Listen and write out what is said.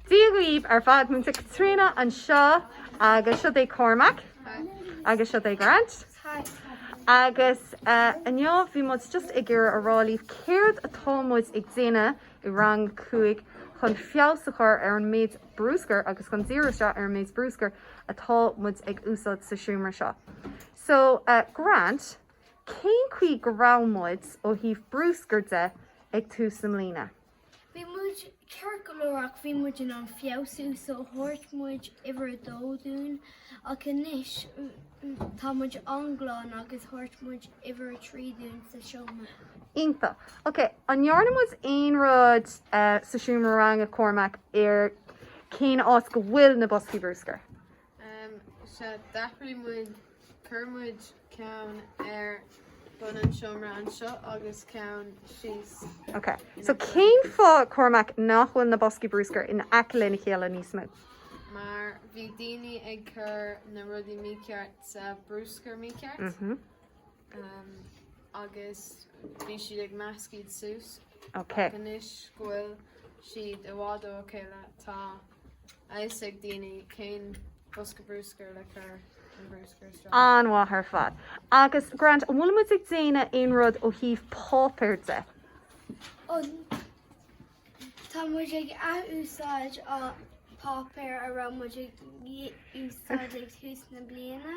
Dia daoibh ar fad Múinteoir Caitríona anseo agus seo é Cormac agus seo é Grant agus inniu bhí muid just ag iarraidh a rá libh céard atá muid ag déanamh i rang a cúig chun feabhas a chur ar an méid bruscair agus chun díriú isteach ar an méid bruscair atá muid ag úsáid sa seomra seo. So, Grant, cén chaoi go raibh muid ó thaobh bruscair de ag tús na bliana? Bhí muid ceart go leor ach bhí muid in ann feabhsú so thabharfadh muid uimhir a dó dúinn ach anois tá muid an-glan agus thabharfadh muid uimhir a trí dúinn sa seomra. Iontach. Ok, an ndearna muid aon rud sa seomra ranga Cormac ar cén áit go bhfuil na boscaí bruscair? Sea, d'athraigh muid, chuir muid ceann ar bun an seomra anseo agus ceann síos. Ok, so cén fáth, Cormac, nach bhfuil na boscaí bruscair in aice lena chéile níos mó? Mar bhí daoine ag cur na rudaí mícheart sa bhruscar mícheart. agus bhí siad ag meascadh iad suas. Ok. Ach anois go bhfuil siad i bhfad óna chéile, tá a fhios ag daoine cén bosca bruscair le cur an bruscar isteach. An-mhaith ar fad. Agus Grant, an bhfuil muid ag déanamh aon rud ó thaobh páipéir de? Ó, tá muid ag athúsáid páipéar a raibh muid ag úsáid ag tús na bliana.